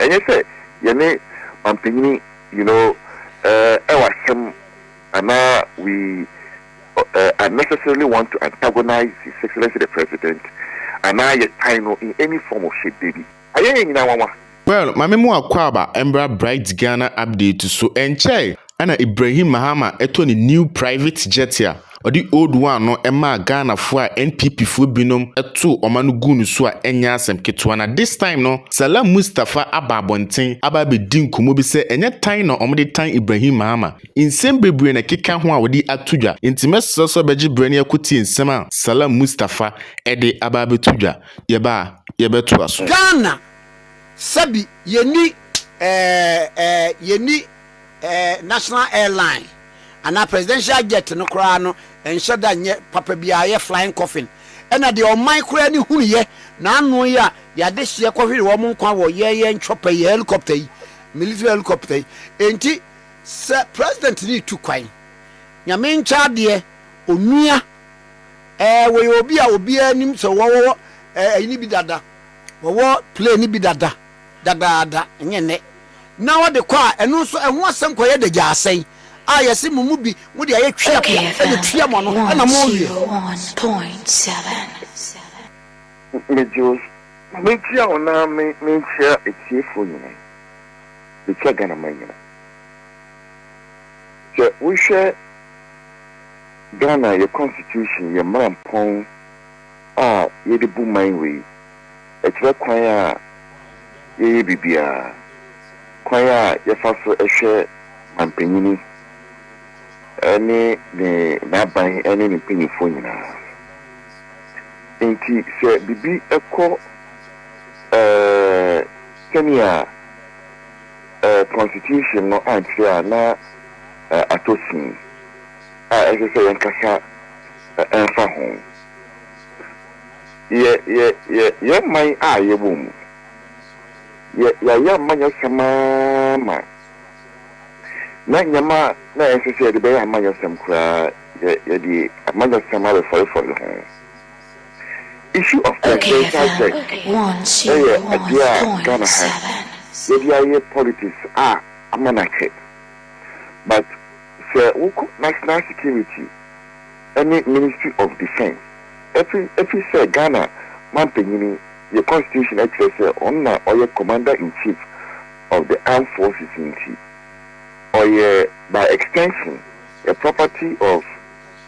ɛnyɛ sɛ yɛne manpanyini you know ɛwɔ asɛm anaa we unnecessarily want to antagonize His Excellency the President anaa yɛtan no in any form of shape, dabi. Ayɛ yɛn nyinaa nwanwa. Well, ma me mu akwaaba mbra Bright Ghana update so, ɛnkyɛe Ɛna Ibrahim Mahama ɛtɔ ne new private jet a ɔde old one no ɛmaa Ghana foɔ a NPP foɔ binom ɛtoo ɔma no guu no so a ɛnyɛ asɛm ketewa na this time no Salam Mustapha aba abɔnten aba abɛdi nkɔmmɔ bi sɛ ɛnyɛ tan na ɔmo de tan Ibrahim Mahama nsɛm bebree na ɛkeka ho a ɔde ato dwa nti mɛsrɛ sɛ ɔbɛgye berɛ na yɛakɔtie nsɛm a Salam Mustapha ɛde aba abɛto dwa yɛba a yɛbɛtoa so. Ghana sɛbi yɛni ɛɛ ɛɛ yɛni. Ɛɛ, national airline anaa presidential jet no koraa no nhyɛ da nyɛ papa biara, ɛyɛ flying coffin. Ɛna deɛ ɔman koraa ani hunuiɛ na ano yi a yɛade hyeɛ kɔhwere wɔn nkwa wɔ yɛn yɛn chopper yi, yɛn helicopter yi, military helicopter yi. Enti sɛ president no retu kwan, Nyame nkyɛ adeɛ, onua, ɛɛ, wɔyɛ obi a obiara nim sɛ wɔwɔ ɛyi no bi dada, wɔwɔ plane no bi dada. dadaada, ɛnyɛ nnɛ, na wɔde kɔ a, ɛno nso ɛho asɛm kɔyɛ dagyaasayi a yɛse mo mu bi mode ayɛ tweapea de tua mo ano na moawie. Megye wo na metua wo na me menkyea atiefoɔ nyinaa, metua Ghanaman nyinaa. Sɛ wohwɛ Ghana yɛ constitution, yɛ mmarampɔn a yɛde bu man wei, Ɛkyerɛ kwan a yɛyɛ biribiara, kwan a yɛfa so hwɛ manpanyin ne ne n'aban ne ne mpanyimfoɔ nyinaa. Enti sɛ biribi kɔ sɛnea Constitution no ankyerɛ a, na atɔ sin a ɛsɛ sɛ yɛnkasa fa ho. Yɛ, yɛ, yɛ, yɛn man a yɛwɔ mu. Yɛ, yɛayɛ ama nyɛ sɛm ara ma, na nneɛma na ɛnsɛ sɛ yɛde bɛyɛ ama nyɛ sɛm koraa, yɛ, yɛde ama nyɛ sɛm abɛfɔrefɔre ho. Issue of presidential jet na yɛ adeɛ a Ghana ha yɛde ayɛ politics a ama no akyɛ, but sɛ wokɔ national security, ɛne Ministry of Defence ɛfi ɛfi sɛ Ghana manpanyini yɛ constitution ɛkyerɛ sɛ ɔno na ɔyɛ Commander in Chief of the Armed Forces nti ɔyɛ by extension a property of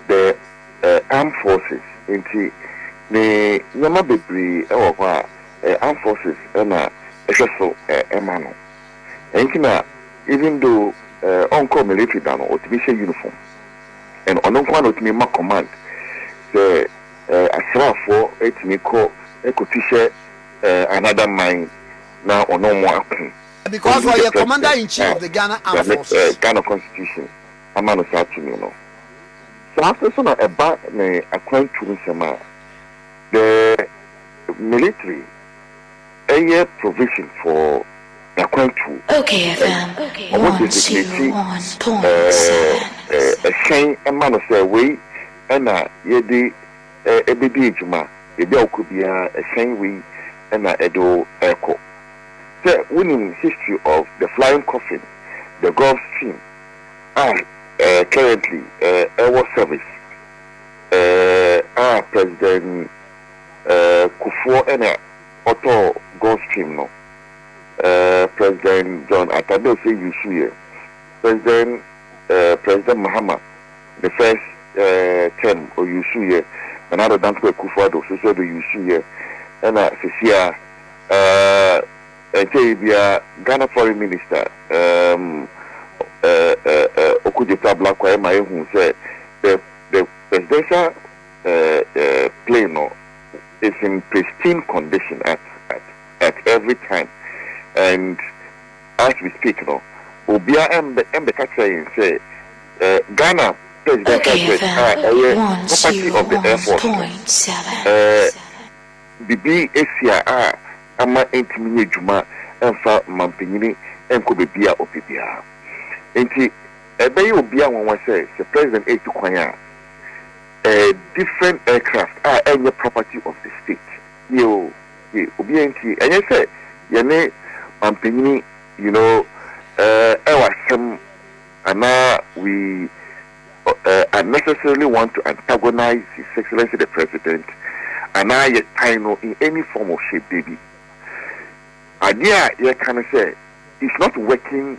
the Armed Forces nti ne nneɛma bebree ɛwɔ hɔ a ɛyɛ Armed Forces na ɛhwɛ so ɛma no ɛnti na even though ɔnkɔɔ military da no ɔtumi hyɛ uniform. and ɔno nkoaa na ɔtumi ma command sɛ asraafoɔ tumi kɔ kɔ tu hyɛ another man na ɔne ɔmo ako. Because ɔyɛ commander in chief of the Ghana armed forces. Nyame Ghana constitution ama no saa tumi no. Saa nso so na ɛba ne akwantu nsɛm a, the military. Ɛyɛ provision for n'akwantuo. Okay FM Ɔmo one designate two one point seven. ɛhyɛn ma no sɛ wei na yɛde ɛbɛdi adwuma, baabi a wokɔ biara ɛhyɛn wei na ɛde wo ɛkɔ. Sɛ wonim history of the flying coffin, the Gulfstream a currently ɛwɔ service a President Kufuor na. ɔtɔɔ Gulfstream no, eh, President John Atta Bese use yɛ President, eh, President Mahama ne first, eh, term o use yɛ, Nana Addo Dankwa Akufo Addo so sɛ do use yɛ, ɛna sesia, eh, ɛnkyɛe biaa Ghana Foreign Minister, ehm, eh, eh, eh, Okudzeto Ablakwa ɛma ehu sɛ the, the Presidential plane no is in pristine condition at at at every time and as we speak no obia ɛmbɛ ɛmbɛka kyerɛ yɛn sɛ eh, Ghana presidential Okay jet a then, ɛyɛ one, property two, of the one, air force no point, seven. eh, bibi esi a a ama ɛntumi nyɛ adwuma ɛmfa mampanyini ɛnkɔ baabi a ɔpɛ biara nti ɛbɛyɛ obia nwanwa sɛ sɛ president ɛtu kwan a eh different aircraft a ɛnyɛ property of the state yie o yie obiaa ntie ɛnyɛ sɛ yɛne manpanyini you know eh ɛwɔ asɛm anaa we eh unnecessarily want to antagonize his excellency the president anaa yɛ tan no in any form of shape dabi adeɛ a yɛka no sɛ it's not working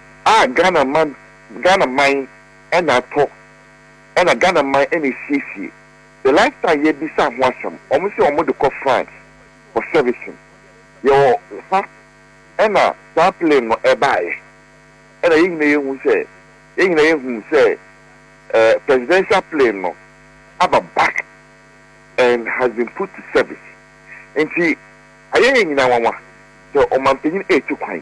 a Ghana man Ghana man na atɔ na Ghana man na esiesie the lifestyle yɛbisa ho asɛm wɔn se wɔn de kɔ France for servicing yɛwɔ ha na saa plane no ɛbaeɛ na yɛn nyina yɛhu sɛ yɛn nyina yɛhu sɛ eh, presidential plane no aba back and has been put to service nti ayɛ yɛn nyina nwanwa sɛ ɔmanpanyin ɛtu kwan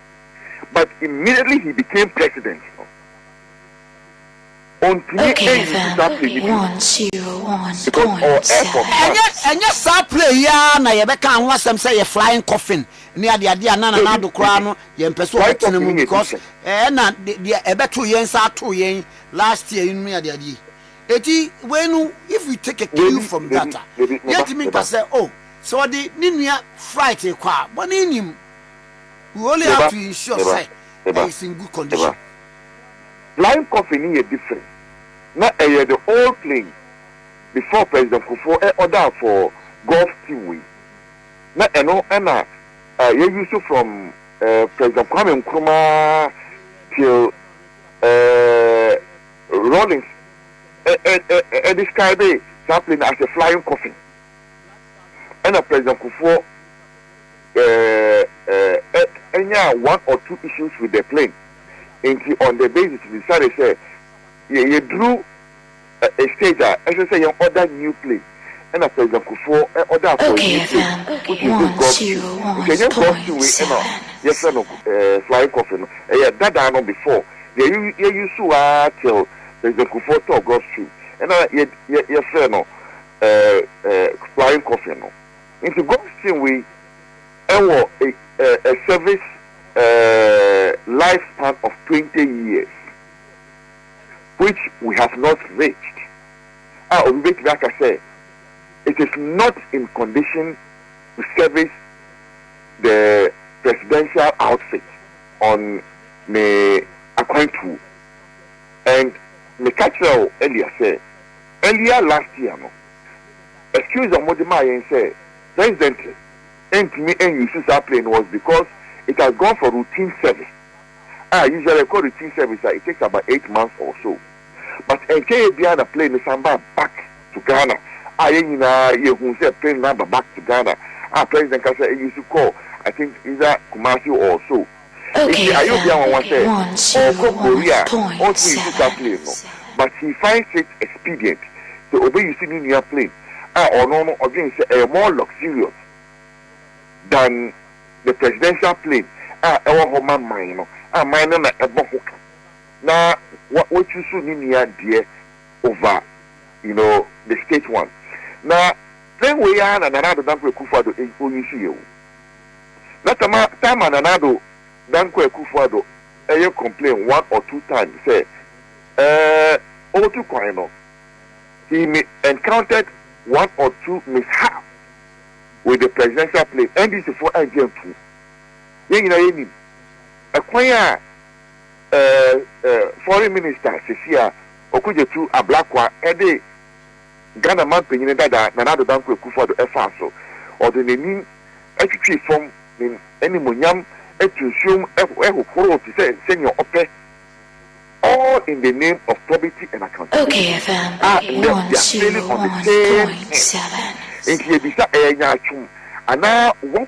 but immediately he became president no ontumi ɛnyi saa play yi bi because ɔwɔ air force one. Ɛnyɛ ɛnyɛ saa play yi ara na yɛbɛka ho asɛm sɛ yɛ flying coffin ne adeade a na Nana Addo koraa no yɛn mpɛ sɛ ɔbɛtena mu because ɛna deɛ ɛbɛto yɛn nsa ato yɛn last year yi no ne adeade yi eti wei no if we take a cue from that a yɛntumi nka sɛ oh sɛ ɔde ne nua flight kɔ a bɔne nim We only have to ensure sɛ ɛyɛ in good condition. Flying coffin no yɛ different, na ɛyɛ the old plane before President Kufuor ɛ order for Gulf team wei. Na ɛno na yɛ use from President Kwame Nkrumah till Rawlings ɛ describe saa plane no as a flying coffin. Ɛna President Kufuor. eh, eh, eh, nyaa one or two issues with the plane, nti on the basis we decided sɛ yɛ yɛduru eh, a stage a ɛsɛ sɛ yɛn order new plane, ɛna President Kufuor eh, order for a Okay new plane, then, which is this one, Gulf two, Stream, nti one, ɛnyɛ Gulf two point, wei ɛna seven. yɛfrɛ no eh, flying coffin no, ɛyɛ dadaa no before yɛ yɛ use so ara till President Kufuor tɔɔ Gulf Stream, ɛna yɛ yɛ yɛfrɛ no eh, eh, flying coffin no. Nti Gostin wei wɔ a service life span of twenty years which we have not reached a obi bɛtumi aka sɛ it is not in condition to service the presidential outfit on ne akwantuo and meka kyerɛ wo earlier sɛ earlier last year no. excuse a wɔde maa yɛn sɛ President ntumi nnuse saa plane no was because it has gone for routine service a usually ɛkɔ routine service a it takes about eight months or so but ɛnkyɛeɛ biara na plane no san baa back to Ghana a yɛn nyinaa yɛhuu sɛ plane no aba back to Ghana a President kasa use kɔɔ I think either Kumasi or so. Enti ayɛ obi anwanwa sɛ ɔɔkɔ Korea a ɔnto nsuka plane no, but he finds it expedient sɛ ɔbɛ use ne nua plane a ɔno no ɔdwen sɛ ɛyɛ more luxurious than the presidential plane a ɛwɔ hɔ ma man no a man no na ɛbɔ ho ka na wa wa choose ne nua deɛ over you know the state one. Na plane wei ara na Nana Addo Dankwa Akufo Addo ɛ ɔ use yɛ o. na sama Tharman Nanado Dankwa Akuffo Addo yɛ complain one or two times sɛ ɛɛ ɔretu kwan no he may encountered one or two mishaps with the presidential plane, NDC foɔ angye antum. Yɛn nyinaa yɛnim ɛkwan a ɛɛ ɛɛ foreign minister Sesi a Okudzeto Ablakwa ɛde Ghana manpanyin dada Nana Addo Dankwa Akufo-Addo ɛfaa so. Ɔde n'anim twitwii fam, ne n'animuonyam tu nsuom hohoroo te sɛ sɛnea ɔpɛ, all in the name of probity and accountability. A nnɛ we are failing on the same thing. Enti yɛbisa, ɛyɛ nyaatwom anaa what?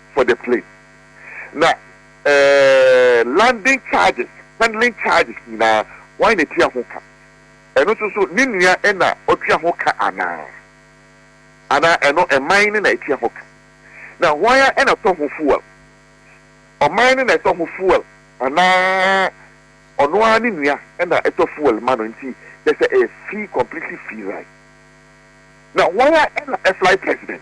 for the plane na ɛɛɛ landing charges, handling charges nyinaa wan na tua ho ka? Ɛno nso so ne nua na ɔtua ho ka anaa? Anaa ɛno ɛman no na ɛtua ho ka? Na hwan ara na ɛtɔ ho fuel? Ɔman no na ɛtɔ ho fuel anaa ɔno ara ne nua na ɛtɔ fuel ma no nti kyɛ sɛ ɛyɛ free completely free ride? Na hwan ara na ɛfly president?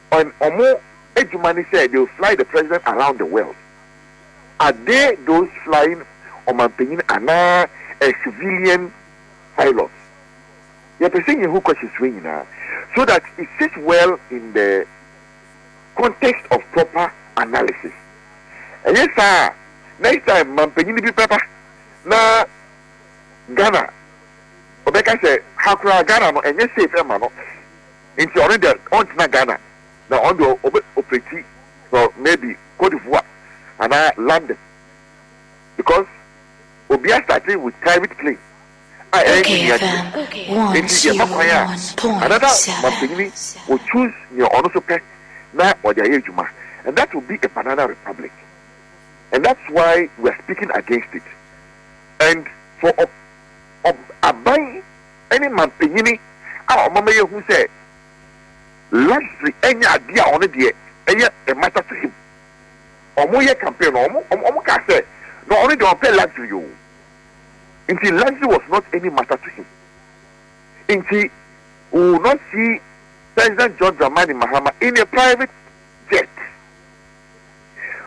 and ɔmo adwuma ne sɛ they will fly the president around the world, are they those flying ɔmanpanyin anaa a civilian pilot? Yɛpɛ sɛ yɛhu questions wei nyinaa so that it sits well in the context of proper analysis. Ɛnyɛ saa a next time manpanyin bi bɛba na Ghana ɔbɛka sɛ ha koraa Ghana no ɛnyɛ safe ɛma no. Nti ɔno deɛ ɔntena Ghana na ɔno deɛ ɔbɛ operate from maybe Cote d'Ivoire anaa London because obia starte with private plane a ɛnye nea deɛ. Nti yɛma kwan a another mampanyini o choose nea ɔno nso pɛ na ɔde ayɛ adwuma and that will be a banana republic and that's why we are speaking against it and for ɔb ɔb aban ne mampanyini a ɔma ma yɛhu sɛ Lesli anya adeɛ a ɔno deɛ ɛyɛ mmata to him. Wɔyɛ campaign no, wɔn kaa sɛ na ɔno deɛ ɔmpɛ Lesli o. Nti Lesli was not any matter to him. Nti we will not see President John Dramani Mahama in a private jet.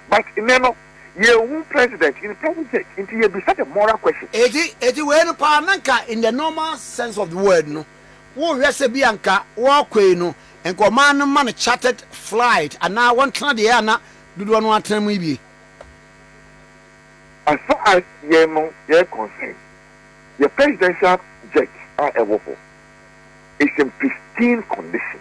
but nnɛ no yɛnhu president in person church nti yɛbisa the moral question. Enti enti wei no paa na nka in the normal sense of the word no wohwɛ sɛ bi a nka wɔkɔ yi no nka ɔman no ma no chartered flight anaa wɔntena deɛ a na dodoɔ no atena mu yi bi. As far as yɛn no yɛ concern yɛ presidential jet a ɛwɔ hɔ is in pristine condition.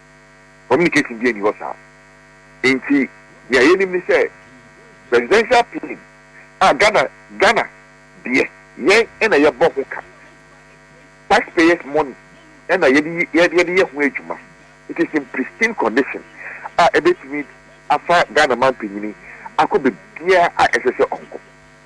Communication biara nni hɔ saa. Enti nea yenim ne sɛ Presidential Plane a Ghana Ghana deɛ yɛn na yɛbɔ ho ka. Taxpayers money na yɛde yɛ yɛde yɛ ho adwuma. It is in pristine condition a ɛbɛtumi afa Ghana Manpanyin akɔ baabiara a ɛsɛ sɛ ɔnkɔ.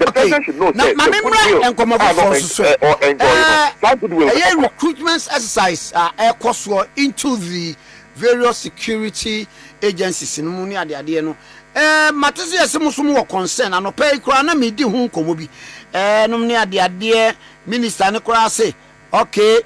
Okay, na ma me mmra nkɔmmɔ foforɔ nso so. Ɛyɛ recruitment exercise a ɛkɔ soɔ into the various security agencies no mu ne adeadeɛ no. Mate sɛ yɛse mo nso mo wɔ concern, anɔpa yi koraa na medi ho nkɔmmɔ bi nom ne adeadeɛ, minister no koraa se okay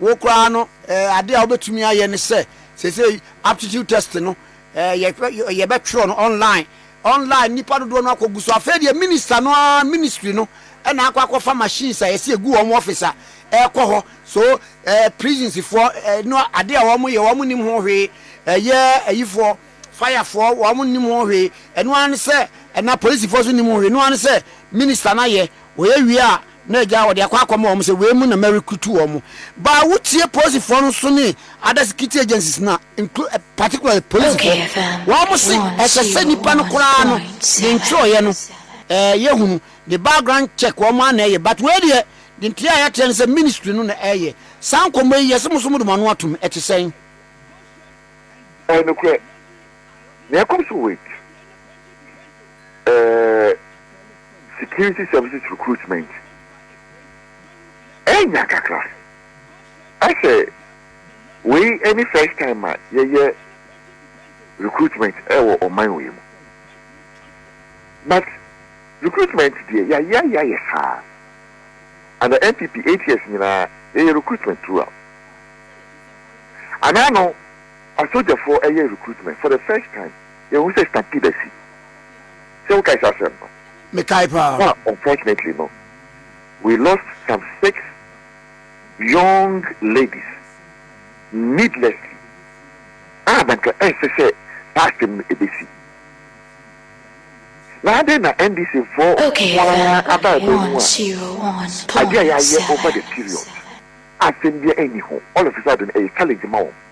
wo koraa no adeɛ a wobɛtumi ayɛ ne sɛ seesei aptitude test no yɛbɛtwerɛ no online Online nnipa dodoɔ no akɔ gu so afei deɛ minister no ara ministry no na akɔ akɔ fa machines a yɛsi egu wɔn office a ɛkɔ hɔ so eh prisons foɔ eh no adeɛ a wɔn yɛ wɔn nim ho hwee ɛyɛ ayifoɔ fire foɔ wɔn nim ho hwee ɛno ara ne sɛ ɛna polisifoɔ so nim ho hwee ɛno ara ne sɛ minister no ayɛ wɔyɛ wie a Na agya a ɔde akɔ akɔma wɔn sɛ wei mu na merekrutu wɔn ba a wotie polisifoɔ no so ne other security agencies no a include particularly polisifoɔ. Wɔn se ɛsɛ sɛ nipa no koraa no de ntwerɛeɛ no ɛɛ yɛhunu de background check wɔn ara na ɛyɛ but wei deɛ de nteɛ a yɛateɛ no sɛ ministry no na ɛyɛ saa nkɔmmɔ yi yɛse mo nso mode mo ano atom ɛte sɛn? Ɛyɛ nokorɛ. Nea ɛkɔ so wɔ akyi, ɛɛ Security Services Recruitment anya kakra. Ɛsɛ wei ɛne first time a yɛyɛ recruitment ɛwɔ ɔman wei mu. But recruitment deɛ yɛayɛ ayɛ ayɛ saa. Under NPP eight years nyinaa yɛyɛ recruitment throughout. Anaa no. Asogyafoɔ ɛyɛ recruitment for the first time yɛhu sɛ stampede asi sɛ wokae saa asɛm no? Mekae paa. Ho a unfortunately no we lost some six young ladies needlessly a na nka ɛnsɛ sɛ saa asɛm no ɛbɛsi na adɛn na NDC foɔ nko ara aba ɛbɛn mu a adeɛ a yɛayɛ over the period a asɛm biara nni ho all of a sudden ɛyɛ challenge ma wɔn.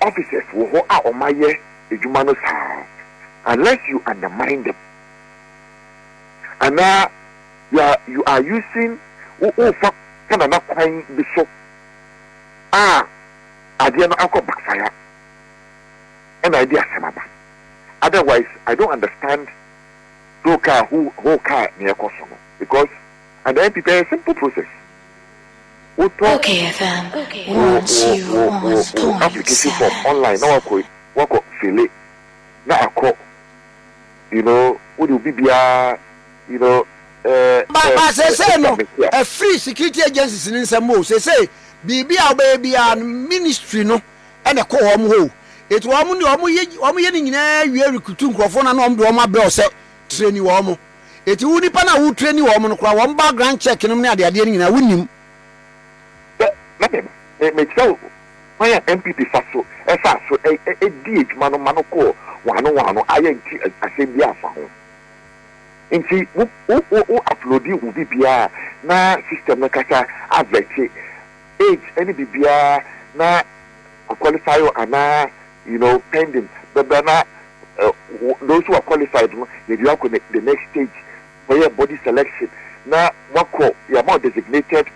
Officers wɔ hɔ a wɔn ayɛ adwuma no saa unless you undermine them anaa you are using wo wo fa fanana kwan bi so a adeɛ no akɔ backfire ɛna ɛde asɛm aba otherwise I don't understand who car who who car na ɛkɔ so no because and MP bɛyɛ simple process. Wotɔ wo wo application form online na wakɔ wakɔ fille na akɔ you know wode obi biara you know ɛɛ ba seesei no ɛfiri security agencies ne nsɛm o seesei biribi a wobɛyɛ biara no ministry no ɛna ɛkɔ wɔn hɔ o eti wɔn de wɔn yɛ wɔn yɛ ne nyinaa wie recruit nkurɔfoɔ na na wɔn de wɔn abrɛ ɔsɛ training wɔn. Enti wo nipa no a wo traini wɔn no koraa wɔn background check nom ne adeadeɛ no nyinaa wo nnim. Sɛ na me me me kyerɛ wo kwan a NPP fa so faa so dii adwuma no ma no kɔɔ waano waano a yɛ nte asɛm biara mfa ho. Enti wo wo wo wo uploadi wo biribiara na system no ankasa avɛte age ne biribiara na a qualify wo anaa? you know, pending bɛbrɛ na those who are qualified no yɛde akɔ the next stage kɔyɛ body selection na wakɔ yɛama designated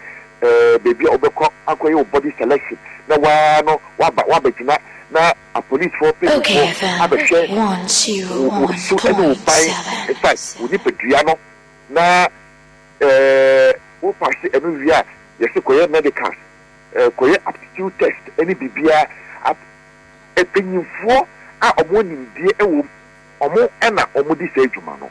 ɛɛ baabi a wobɛkɔ akɔyɛ wo body selection na waa no waba wabɛgyina na apolisifoɔ mpanyinfoɔ abɛhwɛ wo su ɛne wo ban in fact wo nipadua no na ɛɛ wopase ɛno wie a yɛsi kɔyɛ medicals. Kɔyɛ aptitude test ne biribiara ap mpanyinfoɔ a wɔn nimdeɛ wɔ mu wɔn na wɔn di saa adwuma no.